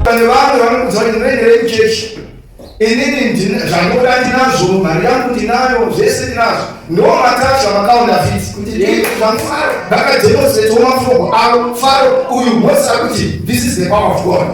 pane vanhu vanoudza kuti ndinoendere kuchechi inini zvandoda ndinazvo mari yangu ndinayo zvese ndinazvo ndo matacha makaona fiti kuti ndifaro ndakademonstrate womafrogo avo faro uyu mose akuti this is the power of god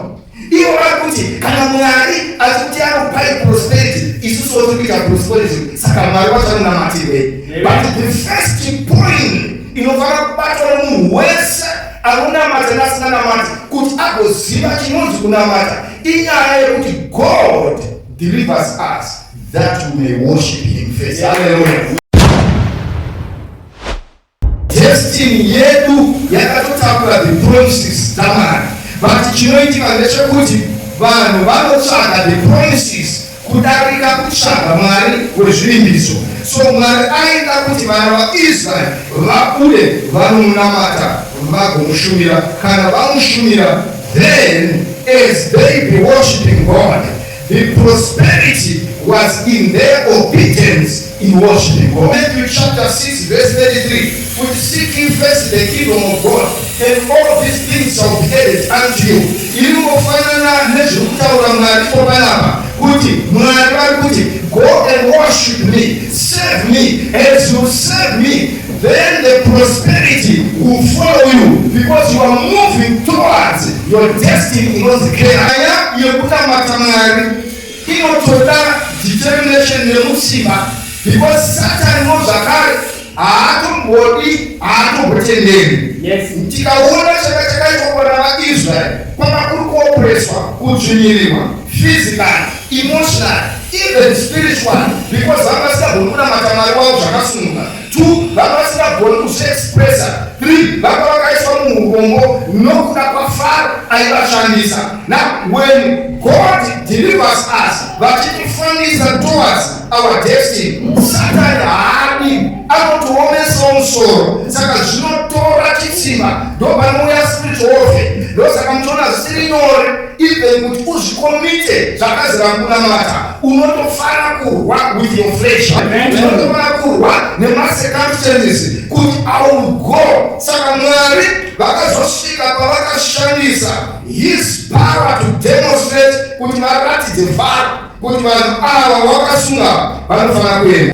ivo vari kuti kana mwari asi kuti anopai prosperity isusu woti kuita prosperity saka mwari vachanonamatirei but the first point inofanira kubatwa nemunhu wese anonamata nasinganamati kuti agoziva chinonzi kunamata inyaya yekuti god delivers us that we may worship him first haleluya destiny yedu yakatotakura the promises dzamwari but chinoitika ndechekuti vanhu vanotsvaga the promises kudarika kutsvaga Mwari wezvivimbiso. So Mwari aida kuti vana vaIsraeri vabude vanomunamata vagomushumira. Kana vamushumira, then as they be worshiping God, the prosperity was in their obedience. In worshiping God. Matthew chapter 6 verse 33 kuti seek ye first the kingdom of God and all these things shall be added unto you. Iri ngofanana nezviri kutaura Mwari ipo panapa kuti Mwari vari kuti go and worship me, serve me as you serve me then the prosperity will follow you because you are moving towards your destiny inonzi keraya yekunamata Mwari. Inotoda determination nemutsipa because Satan no zvakare haatombodi haatombotenderi. Yes. Tikaona chaka chakaitwa kuvana vaIsrael kwanga kuri kuopreswa, kudzvinyirirwa physically, emotionally, even spiritually because vanga vasingagoni kunamata Mwari wavo zvakasununguka. two vanga vasingagoni kuzviexpressa three vanga vakaiswa muurombo nokuda kwafaro aivashandisa na when god delivers us vachitifambisa towards our destiny satani haadi anotiomesao musoro saka zvinotora chitsimba ndopanouya spirit ofe ndosaka muchiona zvisiri nyore even kuti uzvikomite zvakazira kunamata unotofana kurwa with your flesh unotofana kurwa nemacircumstances kuti iwill go saka mwari vakazosvika pavakashandisa his power to demonstrate kuti varatidze vhara kuti vanhu ava wakasunga vanofanira kuenda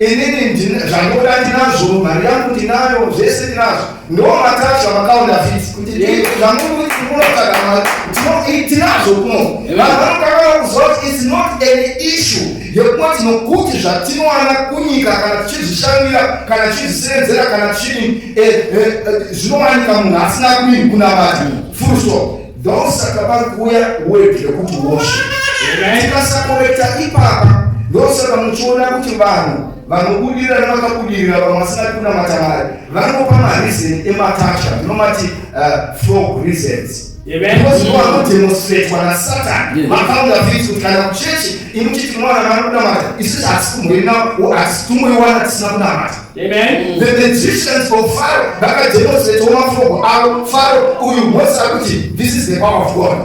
inini zvandoda ndinazvo mari yangu ndinayo zvese ndinazvo ndo matara zvamakaona fisi kuti zvamunotsvaga mari tinazvo kuno vanhu vanokakana kuziva kuti its not an issue yekuva tinokuti zvatinowana kunyika kana tichizvishandira kana tichizvisenzera kana tichii eh, eh, eh, zvinowanika munhu asina kuii kunamati full stop Ndosaka vari kuuya word yekuti worship. Tikasakorekta ipapa ndosaka muchiona kuti vanhu vanobudirira nevakabudirira vamwe vasina kunamata mari vanopa mareason ematasha tinomati uh, frog reasons vanodemonstratwa nasatan vakaunga fiti kuti kana kuchechi imuchiti mwana vanokunamata isusu hatisi kumhurina hatisi tumboiwana tisina kunamata Amen. The magicians of Pharaoh vakademonstratewo mafoko avo Pharaoh uyu Mose akuti this is the power of God.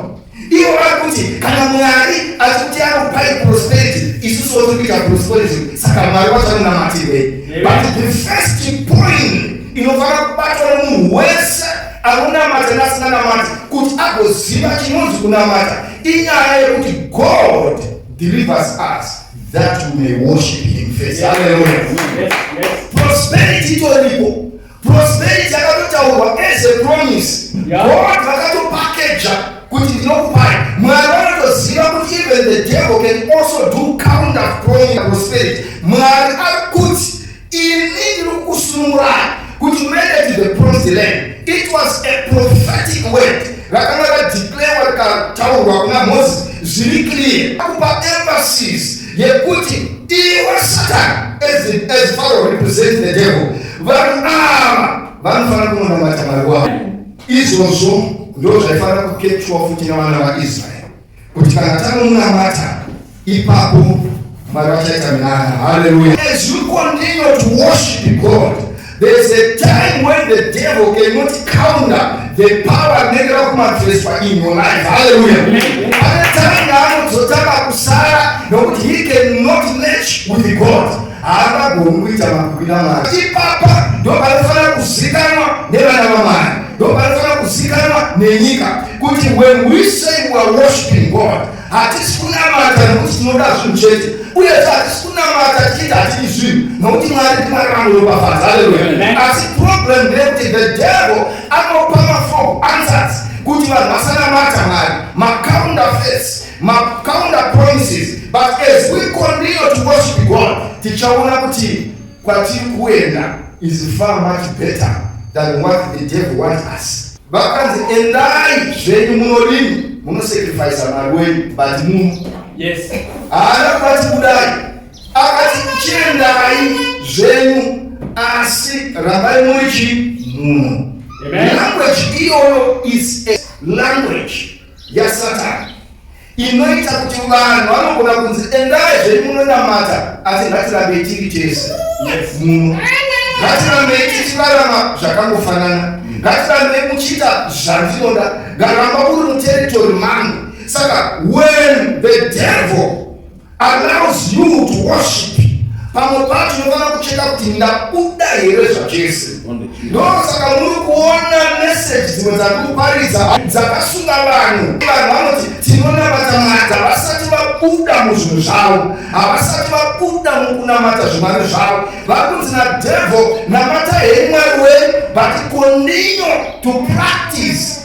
Ivo vari kuti kana Mwari ati kuti anokupai prosperity isusu woti kuita prosperity saka Mwari wachanonamatirwei. But the first point inofanira kubatwa nemunhu wese anonamata nasinganamati kuti agoziva chinonzi kunamata inyaya yekuti God delivers us. that you may worship him first. Yes. Hallelujah. Yes. Yes. Prosperity itoripo. Prosperity yakatotaurwa as a promise. Yeah. God vakatopakeja kuti ndinokupai. Mwari vanotoziva kuti even the devil can also do counter promise prosperity. Mwari ari kuti Ini ndiri kukusunungurai kuti muende to the promised land. It was a prophetic word rakanga radeclarewa rikataurwa kuna Moses zviri clear akupa emphasis yekuti iwe Satan as, as Pharaoh represents the devil vanhu ava vanofanira kunonamata Mwari wavo izvozvo ndozvaifanira kuketchwa futi navana vaIsraeri kuti kana tanomunamata ipapo Mwari vachaita minana. Hallelujah. As you continue to worship God, there is a time when the devil cannot counter the power anenge rakumanifestwa in your life. Hallelujah. Pane time yaanozotanga kusara nokuti he cannot match with God. Haangagoni kuita makwira mari. Ipapa ndopanofanira kuzikanwa nevana vamwari. ndopanofanira kuzikanwa nenyika kuti when we say we are worshiping god hatisi kunamata nokuti tinoda zvinhu chete uye hatisi kunamata tichiti hatidi zvinhu nokuti mwari timwari vanoropafadza aleluya asi problem ndeyekuti the devil anopa mafo answers kuti vanhu vasanamata mwari macounter face macounter promises but as we continue to worship god tichaona kuti Kwatiri kuenda is far much better than what the devil wants us. Vakanzi endai zvenyu munodini munosacrifice mari wenyu but muno. Yes. Haana kwati kudai. Akati chiendai zvenyu asi rambai muri chi muno. Language iyoyo is a language yasatani. inoita kuti vanhu vanogona kunzi endai zvei munonamata asi ngatirambei tiri tese muno ngatirambei tichirarama zvakangofanana mm. ngatirambei muchiita zvandinoda ngaramba uri muteritori mangu saka when the devil allows you to worship pamwe pacho unofanira kucheka kuti ndabuda here zvachese ndosaka muri kuona meseji dzimwe dzakupariza dzakasunga vanhu vanhu vanoti tinonamata mata vasati vabuda muzvinhu zvavo havasati vabuda mukunamata zvimwari zvavo vakunzi nadevil namata hemwari wenyu but continue to practice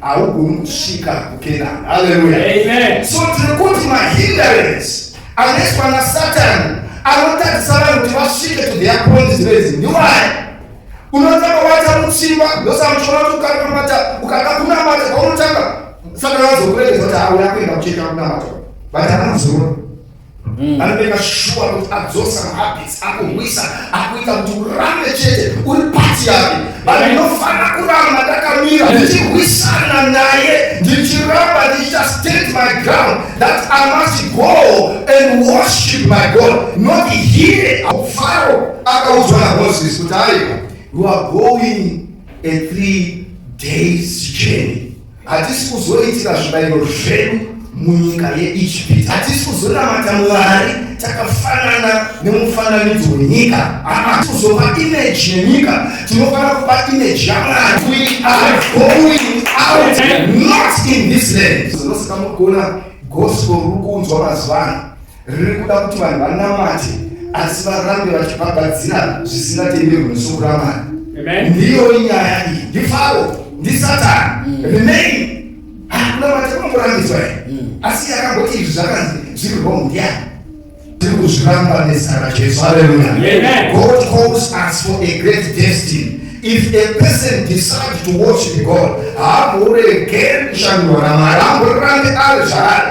haugoni kusvika kukenani haleluya amen so tiri kuti mahinderance anoiswa nasatani anotadzisa vanhu kuti vasvike to their points rezi ndiwai unotanga wata mutsimba ndosamuchona kuti ukanamata ukada kunamata kwaunotanga satani azokuregeza kuti auya kuenda kucheka kunamata but anozona Mm. Anobeka shuwa kuti adzosa mahabits akumwisa akuita kuti urambe chete uri pati yake vanhu ndinofanira kuramba ndakamira ndichirwisana naye ndichiramba ndichiita state my ground that i must go and worship my god not here faro akaudzwa namoses kuti aiwa you are going a three days journey Hatisi kuzoitira zvibayiro zvedu munyika yeIjipiti. Hatisi kuzonamata Mwari takafanana nemufananidzo wenyika. Haa, kuzopa imeji yenyika, tinofanira kupa imeji yaMwari. We are going out not in this land. Zvinosika mugona gospel ruri kuunzwa mazuva ano. riri kuda kuti vanhu vanamate asi varambe vachibhabhadzira zvisingatenderwi nesuku ramwari ndiyo inyaya iyi ndifaro ndisatani mm. remain hakuna mati kunongorambidzwa i mm. asi yakangoti izvi zvakanzi zviri wrong ndiyani tiri kuzviramba nezita rajesu haleluya god calls us for a great destiny if a person decides to worship god haamboregeri kushandurwa namwari amborambe ari zvaari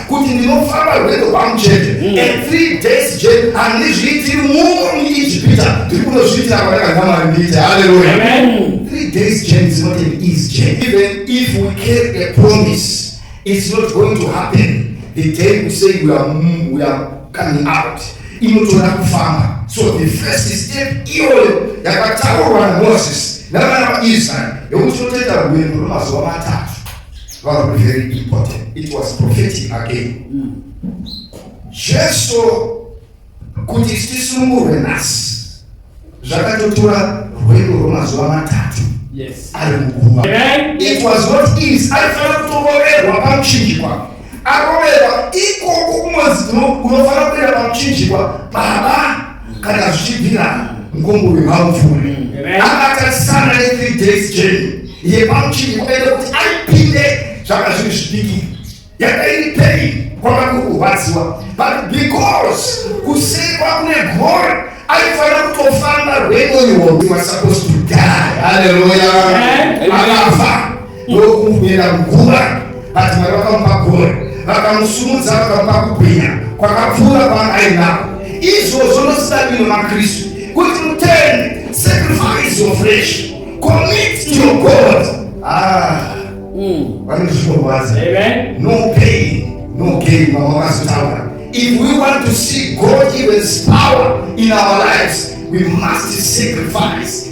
kuti ndinofamba rwendo rwangu chete mm. and three days chete handizviitiri muno muijipita ndiri kunozviitira kwandakanga mwari ndiite haleluya three days chete is not an easy chete even if we carry a promise it's not going to happen the day we say we are, we are coming out inotoda kufamba so the first step iyoyo yakataurwa namoses navana vaisraeri yekuti totoita rwendo rwemazuva matatu Vanhu very important. It was prophetic again. Mm. Jesu kuti tisunungurwe nhasi zvakatotora rwendo rwemazuva matatu ari muguva. It was not easy. Aifanira kutongoverwa pamuchinjikwa aroverwa ikoko kumozi unofanira kuenda pamuchinjikwa baba kana zvichibvira mkombo wemamvuri akatarisana ne3 days jeni yepamuchinji kukaita kuti aipinde zvanga zviri zvidiki yakairipei kwanga kuri kurwadziwa but because kusekwa kune gore aifanira kutofamba rwendo iwo was supposed to die haleluya akafa ndokumubera nguva vati mwari vakamupa gore vakamusumudza vakamupa kubwinya kwakapfuura kwaangainako izvozvo ndosidakwino makristu kuti mutende sacrifice your flesh commit to your god ah mm. vanozvinorwadza no pain no gain vamwe vakazotaura if we want to see god even power in our lives we must sacrifice